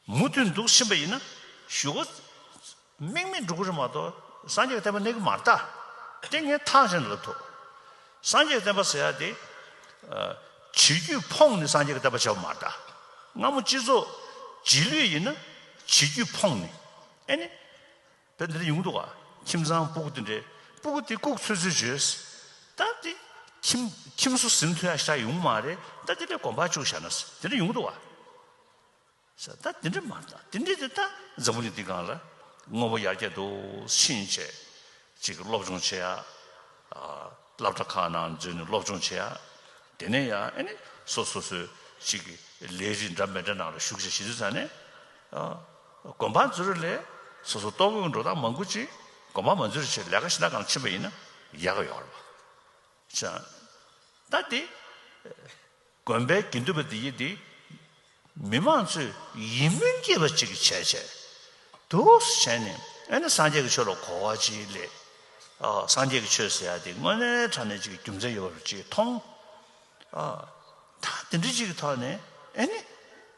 མུ་མཐུད་འདུག་བཞིན་པ་ཡིན་ན། ཞུ། དམིགས་མེད་འགྲོ་གི་རེད་མ་གཏོགས་སངས་རྒྱས་བསྟན་པ་གནས་གི་མ་རྟ། ཏིང་ངེ་ཐག་བཞིན་ལ་ཐུག། སངས་རྒྱས་བསྟན་པ་ཟེར་ཡ་དེ། བྱེད་རྒྱུད་ཕོངས་ནས་སངས་རྒྱས་ཀྱི་བསྟན་པ་བྱ་བ་མ་རྟ། སྔ་མོ་སྤྱི་ཚོགས། རྗེས་ལུས་ཡིན་ན། བྱེད་རྒྱུད་ཕོངས་ནས། ཨེ་ནི། བོད་འདི་ཡོང་གི་འདུག་ཁྱིམ་ཚང་སྤུག་དེ་འདྲས་སྤུག་དེ་ལྐུག་ཚོད་ཚོད་བྱོས། ད་དེ་ཁྱིམ་ཁྱིམ་སུ་ཟིན་ཐོན་ཡ་ཤ་ཡོང་མ་རེད་ད་དེ་འདྲས་གོམ་པ་བཅུག་བཞག་ན་དེ་འདྲས་ཡོང་གི་འདུག་བསམ་ད་དེ་འདྲས་མ་ད་དེ་འདྲས་དེ་ད་འཛམ་བུ་གླིང་འདི་གང་ལ་དངོས་པོ་ཡར་རྒྱས་འདུག་ཕྱིན་ཆད་ཅིག་སློབ་སྦྱོང་བྱེད་ཡ། སླབ་གྲ་ཁག་ནང་འཛུལ་ནས་སློབ་སྦྱོང་བྱེད་ཡ། དེ་ནས་ཡ་ཨེ་ནས་སོ་སོ་སོས་ཅིག་ལས་རིགས་འདྲ་མི་འདྲ་ནང་ལ་ཞུགས་བྱེད་བྱེད་དུས་ཚ་ནས། དགོན་པར་འཛུལ་རེ་ལས་སོ་སོ་གཏོགས་དགོན་འགྲོ་སྟངས་མང་དགོས་ཀྱི་དགོན་པར་མ་འཛུལ་རེ་ཆེད་ལས་ཀ་ཞིག་ན་གང་ཕྱིན་པ་ཡིན་ན་ཡག་ཡོད་རེད་པ། བྱང། ད་དེ། དགོན་པའི་དགེ་འདུན་པ་འདི་ཡིས་འདི། མི་མང་ཚོས་ཡིད་སྨོན་སྐྱེས་པ་ཅིག་བྱས་བྱས། དུས་བྱས་ནས་ཨེ་ན་སངས་རྒྱས་ཀྱི་ཆོས་ལ་གོ་བ་ཅིག་སླེབས། སངས་རྒྱས་ཀྱི་ཆོས་ཟེར་ཡ་འདི་དངོས་གནས་དྲ་གནས་ཅིག་གི་རྒྱུ་མཚན་ཡོད་པ་རུ་ཅིག་མཐོང། ད་འདི་འདྲི་ཅིག་གི་ཐོག་ནས་ཨེ་ནི།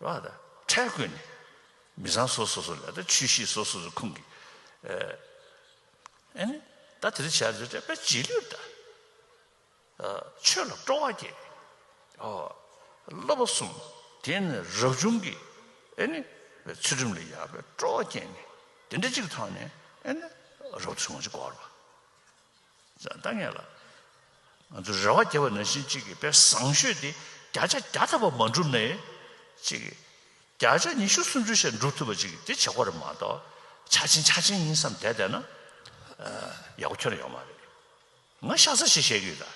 ལ་དང་ཕྲལ་བཀོད་ནས། མི་བཟང་སོ་སོ་སོ་ལ་དང་ཆོས་ཤེས་སོ་སོ་སོ་ཁུངས་ཀྱི། ཨེ་ནི། ད་དེ་རིགས་བྱ་བྱེད་དྲེགས་པའི་རྗེས་ལུས་དང། ཆོས་ལ་སྤྲོ་བ་བསྐྱེད། སློབ་པ་གསུམ་དེས་ནི་རབ་བྱུང་གི། ཨེ་ནི། ཚུལ་ཁྲིམས་ལ་ཡར་པའི་སྤྲོ་བ་བསྐྱེད་ནས། དེ་འདྲ་གཅིག་ཐོག་ནས། ཨེ་ནི། རབ་བྱུང་གི་སྐོར་བ། བཟང་ལྟ་ངན་ལ། ང་ཚོ་རེ་བ་རྒྱས་པ་ནང་བཞིན་གཅིག་གི་དཔེ་བཟང་ཤོས་དེ་བརྒྱ་ཆ་བརྒྱ་ཐར་པ་མ་འགྲུབ་ནས། གཅིག་གི། བརྒྱ་ཆ་ཉི་ཤུ་སུམ་ཅུ་ཞེ་འགྲུབ་ཐུབ་པ་ཅིག་དེ་བྱེད་དགོས་རེད་མ་གཏོགས། ཆ་ཆེན་ཆ་ཆེན་ཡིན་བསམ་བསྡད་བསྡད་ན། ཡག་པོ་ཁྱོན་ཡོང་མ་རེད། ང་ཤ་ཚ་ཞིག་བཤད་ཀྱི་ཡོད་ད།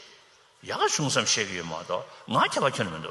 ཡག་ག་བྱུང་བསམ་བཤད་ཀྱི་ཡོད་མ་གཏོགས་ང་ཁྱད་པར་ཁྱོན་མི་འདུག།